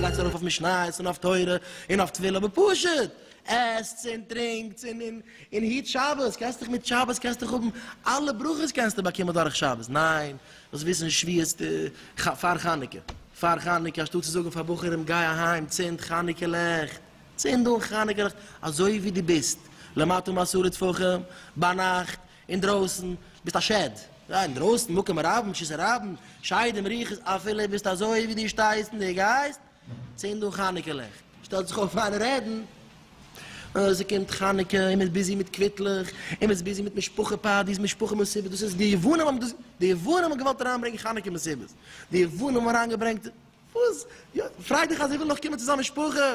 גייטס ארויף אויף משניות און אויף תורה און אויף טבילה בפשט, עסטס און טרינקטס און און און היט שבת, קענסט דיך מיט שבת קענסט דיך האבן אלע ברכות קענסטו באקומען דורך שבת, ניין וואס וויסן שוויעצט ח פאר חנוכה פאר חנוכה אנשטאט צו זאגן פאר בחורים גיי אהיים צינד חנוכה לעכט צינד אן חנוכה לעכט אזוי ווי די ביסט למטה מעשרה טפחים ביינאכט אינדרויסן ביסט א שד גיי אינדרויסן מקום רבים שיסערייבן שדים רוחות אפילו ביסט אזוי ווי די שטייסט און די גייסט צינד אן חנוכה לעכט, שטעלט זיך אויף אן רעדן, אה, ס'קומט חנוכה און מ'איז ביזי מיט קוויטלעך, און מ'איז ביזי מיט משפחה פארטיס, משפחה מסיבות, דאס איז, די יוונים האבן דאס, די יוונים האבן געוואלט אריינברענגען חנוכה מסיבות, די יוונים האבן אריינגעברענגט, וואס, יא, פריי דיך אז ער וויל נאך קומען צו זיין משפחה.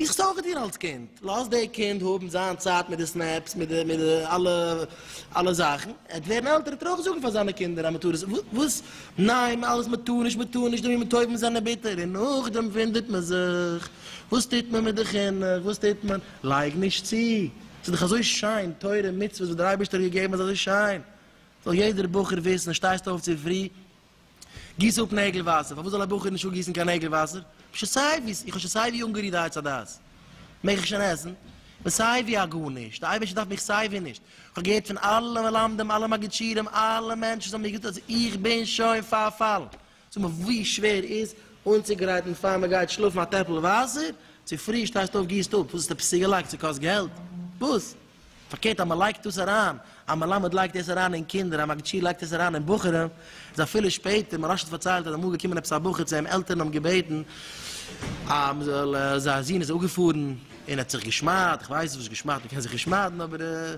איך זאג דיר אלס קינד, לאז די קינד האבן זיין צייט מיט די סנעפס, מיט די מיט די אלע אלע זאכן, ער וועט ווערן עלטער ער טאר אויך זאגן פאר זיינע קינדער אז מ'טאר עס, וואס? ניין, אלעס מ'טאר נישט, מ'טאר נישט, די ימים טובים זענען ביטער, און נאכדעם וואונדערט מען זיך, וואס טוט מען מיט די חינוך, וואס טוט מען? לייג נישט צו, ס'איז דאך אזוי שיין, תורה, מצוות וואס דער אייבערשטער האט געגעבן איז אזוי שיין, זאל יעדער בחור וויסן, שטייסט אויף צופרי, גיס אפ נעגל וואסער, פארוואס זאל א בחור נישט אפגיסן קיין נעגל וואסער? איך האב שוין סיי ווי, איך האב שוין סיי ווי אנגערירט די עץ הדעת, מעג איך שוין עסן? איך בין סיי ווי א גארנישט, די אייבערשטער דארף מיך סיי ווי נישט, איך האב געהערט פון אלע מלמדים, אלע מגיד שיעורים, אלע מענטשן וואס האבן מיר געזאגט אז איך בין שוין פארפאלן, זאג מיר ווי שווער איז אנצוגרייטן פאר מען גייט שלאפן א טעפל וואסער, צופרי שטייסטו אויף גיסט אפ, וואס האסטו עפעס צוגעלייגט ס'קאסט געלט? וואס? פארקערט אז מען לייגט דאס אריין, א מלמד לייגט דאס אריין אין קינדער, א מגיד שיעור לייגט דאס אריין אין בחורים, איז אפילו שפעטער, מוהראש האט פארציילט אז אמאל איז געקומען עפעס א בחור צו אים, עלטערן האבן געבעטן אז מען זאל, זייער זון איז אפגעפארן און האט זיך געשמד'ט, איך ווייס נישט וואס געשמד'ט, מען קען זיך נישט שמד'ן, אבער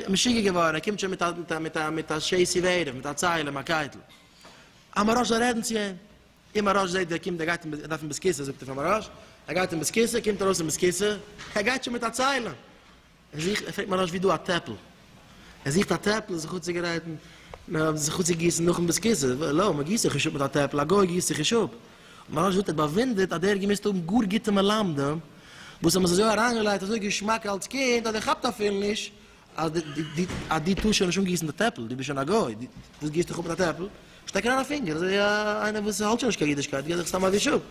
משוגע געווארן, ער קומט שוין מיט א, מיט א, מיט א שעיסיווער, מיט א ציילער, מיט א קייטל, אז מוהראש זאל רעדן צו אים, און מרש זעט ווי ער קומט ער גייט אין ער דארף אין בית כסא זאגט ער פאר מרש ער גייט אין בית כסא קומט ארויס אין בית כסא ער גייט שוין מיט א ציילע ער זוכט ער פרעגט מרש ווי דא א טעפל ער זוכט א טעפל זיך אנצוגרייטן זיך אנצוגיסן נאכן בית כסא לא מען גיסט זיך נישט אפ מיט א טעפל א גוי גיסט זיך נישט אפ מרש זאגט ער האט באוואונדערט אז דער האט געמוזט האבן גאר גוטע מלמדים וואס האבן עס אזוי אריינגעלייגט אזוי געשמאק אלץ קינד אז ער כאפט אפילו נישט אז די אז די טוסט שוין נישט אנגעריסן די טעפל, די ביסט שוין א גוי, די וואס גיסט דיך אפ מיט א טעפל, שטעק אריין א פינגער, אזוי א איינער וואס האלט שוין נישט קיין אידישקייט געט דיך סתם א וויש אפ.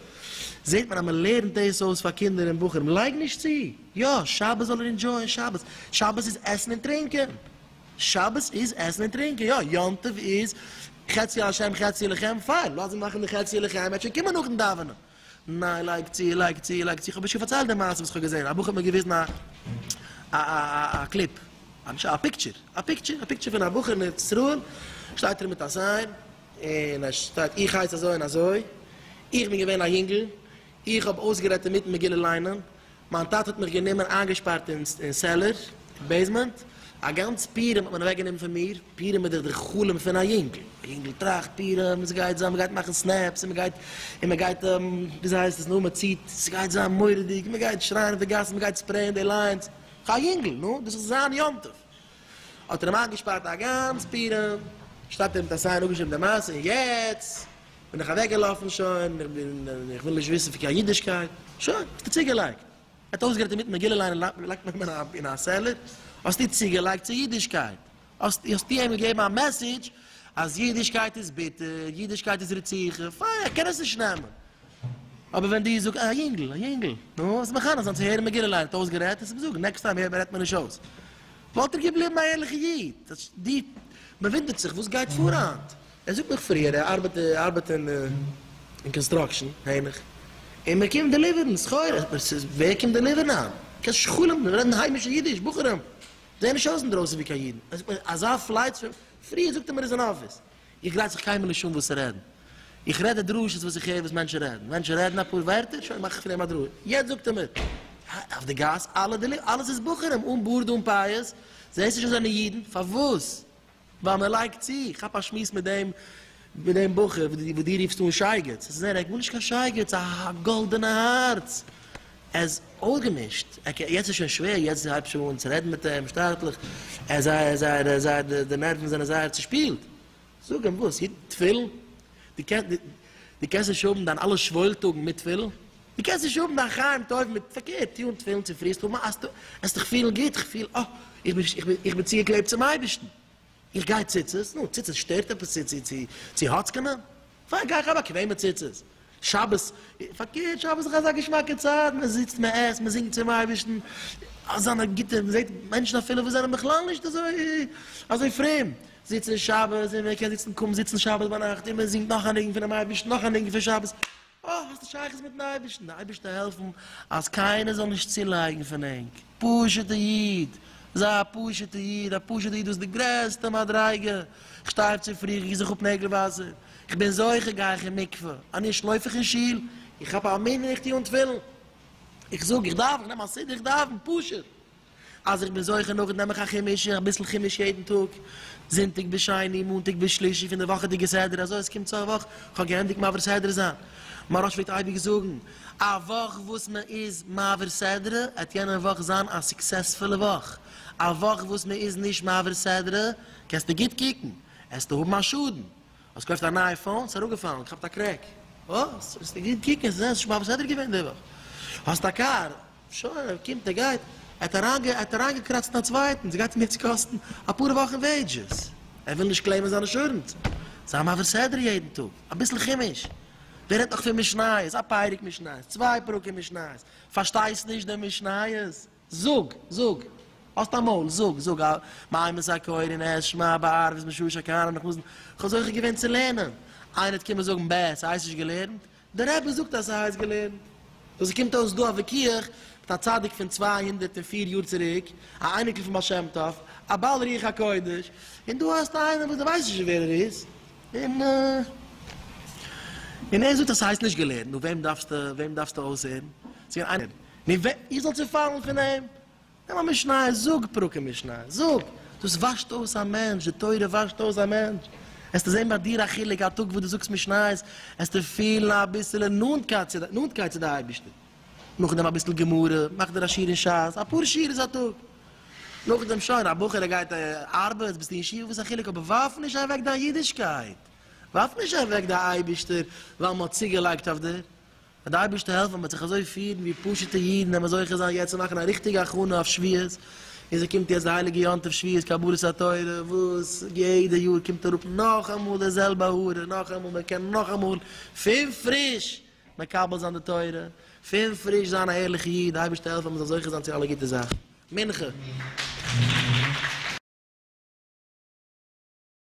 זעט מען אז מען לערנט דאס אויס פאר קינדער און בחורים, לייג נישט צו, יא, שבת זאל ער אינדזשויען שבת, שבת איז עסן און טרינקען, שבת איז עסן און טרינקען, יא, יום טוב איז חצי לשם חצי לכם, פיין, לאז אים מאכן די חצי לכם, ער וועט שוין קומען נאכן דאווענען. ניין לייג צו לייג צו לייג צו איך האב נישט געפארציילט די מעשה וואס איך האב געזען א בחור האט מיר געוויזן א א א א קליפ א נישט א פיקטשער א פיקטשער א פיקטשער פון א בחור אין ארץ ישראל שטייט ער מיט א סיין און עס שטייט איך הייס אזוי און אזוי איך בין געווען א יונגל איך האב אויסגערעדט אינמיטן מגילה ליינען מיין טאטע האט מיך גענומען איינגעשפארט אין סעלער, בעיסמענט, א גאנץ פורים האט מען אוועק גענומען פון מיר, פורים איז דאך דער חלום פון א יונגל, א יונגל טראכט פורים עס גייט זיין מען גייט מאכן סנעפס און מען גייט און מען גייט וויאזוי הייסט עס נו מען ציט עס גייט זיין מוראדיג און מען גייט שרייען אויף די גאסן מען גייט ספרעיען די ליינס, איך א יונגל נו דאס איז זיין יום טוב, האט ער אים איינגעשפארט א גאנץ פורים, שטייט ער מיט א סיין אפגעשריבן די מעשה און יעצט בין איך אוועקגעלאפן, שוין, איך בין, איך וויל נישט וויסן פון קיין אידישקייט. שוין, האסטו צוגעלייגט. ער האט אויסגערעדט אינמיטן מגילה ליינען, לייגט מען אים אין א סעלער. האסטו צוגעלייגט צו אידישקייט. האסט, האסטו אים געגעבן א מעסעדזש אז אידישקייט איז ביטער, אידישקייט איז רציחה. פיין, ער קען עס נישט נעמען. אבער ווען דו זאגסט, א יונגל, א יונגל, נו, עס איז מחנך זיין צו הערן מגילה ליינען, ער האט אויסגערעדט, עס איז מסוכן, נעקסט טיים הערט מען, רעדט מען נישט אויס. וואלט ער געבליבן א ערליכער איד. די, מ'ווינדערט זיך, וואס גייט פאר היינט? ער זאגט מיך פריער ער ארבעט ער ארבעט אין אין קאנסטראקשען העניך און מען קומט דעליווערן סחורה אבער ס'איז ווער קומט דעליווערן היינט קיין שכלים די רעדן היימישע אידיש בחורים זעען נישט אויס אינדרויסן ווי קיין אידן ער זאגט מיר אזא פלייץ פון פריער זאגט ער מיר איז אין אפיס איך גרייט זיך קיינמאל נישט אן וואס צו רעדן איך רעד די דרשות וואס איך הער וואס מענטשן רעדן מענטשן רעדן אפאר ווערטער שוין מאך איך פון דעם א דרשה יעצט זאגט ער מיר אויף די גאס אלע דעליווערן אלעס איז בחורים אן בארד אן פאות זעהסט נישט אז זיי זענען אידן פארוואס ווייל מען לייגט צו, כאפ א שמועס מיט דעם מיט דעם בחור וואס דו רופסט אן שייגעץ, עס איז ער, ער האט גארנישט קיין שייגעץ, א גאלדענע הארץ, ער איז אויסגעמישט, אקעי יעצט איז שוין שווער, יעצט הייב שוין אן צו רעדן מיט אים שטאטליך, ער איז זייער זייער זייער די נערוון זענען זייער צושפילט, זאג אים וואס, יעדן תפילין, דו קענסט נישט האבן דיין אלע שוואוילטאגן מיט תפילין? דו קענסט נישט האבן דיין חיים טוב מיט פארקערט טון תפילין צו פרי, סתם מאכסטו, וועסט דיך פילן גוט, איך פיל אה, איך בין נישט, איך בין צוגעקלעבט צום אייבערשטן, איך גיי ציצית, נו, ציצית שטערט עפעס צו האצקענען? פיין גיי איך א באקוועמע ציצית, שבת, פארקערט שבת איז דאך אזא געשמאקע צייט, מען זיצט מען עסט מען זינגט צום אייבערשטן, אזאנע גוטע, מען זעט מענטשן אפילו וואס זענען בכלל נישט אזוי אזוי פרום זיצן שבת, און מען קען זיצן קוים זיצן שבת ביינאכט, און מען זינגט נאך א ניגון פונעם אייבערשטן, נאך א ניגון פון שבת, אה, האסט א שייכות מיטן אייבערשטן, די אייבערשטער העלפן אז קיינער זאל נישט צולייגן פון ענק, פשוטע איד, זיי א פשוטע איד, א פשוטע איד דאס איז די גרעסטע מדריגה, איך שטיי אויף צו פרי, איך גיס זיך אפ נעגל וואסער, איך בין זוכה גיי איך אין מקווה, אני ש לויף איך אין שול, איך כאפ א מנין איך טוה אן תפילין, איך זאג איך דאווען, איך נעם א סידור איך דאווען, פשוט. אז איך בין זוכה נאכט נעם איך א חומש, אביסל חומש יעדן טאג, זונטאג ביז שני, מאנטאג ביז שלישי פון די וואכעדיגע סדר, אזוי אז ס'קומט סוף וואך, איך האב געענדיגט מעביר סדרה זיין. מהרא ש פלעגט אייביג זאגן, א וואך וואס מען איז מעביר סדרה, וועט יענע וואך זיין א סוקסעספולע וואך, א וואך וואס מען איז נישט מעביר סדרה, קענסטו גוט קוקן, עסטו האבן א שאדן. האסט געקויפט א נייע פאון? ס'איז אראפגעפאלן, געכאפט א קרעק. וואס? וועסט נישט גוט קוקן, זע, ס'איז שוין בה בסדר געווען די וואך. האסט א קאר? שוין, ער קומט, ער גייט. ער האט אריינגעקראצט אין א צווייטן, ס'גייט אים יעצט קאסטן אפאר וואכן וועידזשעס. ער וויל נישט קלעימען זיין אינשורענס. זיי מעביר סדר יעדן טאג, אביסל חומש. ווער רעדט נאך פון משניות, א פרק משניות, צוויי פרקים משניות. פארשטייסט נישט די משניות? זאג, זאג, האסט א מויל, זאג, זאג, א מים איז א כהן אין עז שמע בערב איז משהש א כהנא נאך נאזן, כ'וואלט זוכה געווען צו לערנען, איינער וועט קומען זאגן בע, ס'הייסט נישט געלערנט, דער רבי זאגט אז ס'הייסט געלערנט. סאו ס'קומט אויס דא א וויכוח מיט א צדיק פון צוויי הונדערט און פֿיר יאר צוריק, א אייניקל פון בעל שם טוב, א בעל רוח הקודש, און דא האסטו איינעם וואס דו ווייסט נישט ווער ער איז, און און ער זאגט אז ס'הייסט נישט געלערנט, נו וועם דארפסטו, וועם דארפסטו אויסהערן? ס'קען איינער נו ווער איך זאל צופאלן פון אים? נעם א משניות זאג פרקים משניות זאג, דאס וואשט אויס א מענטש, די תורה וואשט אויס א מענטש, עסטו זען ביי דיר א חילוק א טאג וואס דו זאגסט משניות, עסטו פילן אביסעלע נאנטקייט צו די אייבערשטער, נאכדעם אביסל גמרא, מאך דיר א שיעור אין שס, אפאר שיעוריז א טאג, נאכדעם שוין, א בחור ער גייט ארבעט, ביסטו אין ישיבה וואס איז א חילוק, אבער ווארף נישט אוועק דיין אידישקייט, ווארף נישט אוועק די אייבערשטער ווייל מען האט צוגעלייגט אויף דיר, אז די אייבערשטער העלפט מען וועט זיך אזוי פירן ווי פשוטע אידן וועט מען זוכה זיין יעצט צו מאכן א ריכטיגע הכנה אויף שבועות און ס'קומט יעצט די הייליגע יום טוב שבועות קבלת התורה וואס יעדע יאר קומט אראפ נאכאמאל די זעלבע הארע נאכאמאל מען קען נאכאמאל פון פריש מקבל זיין די תורה פון פריש זיין א ערליכע איד די אייבערשטער העלפט מען מען זאל זוכה זיין צו אלע גוטע זאכן מנחה.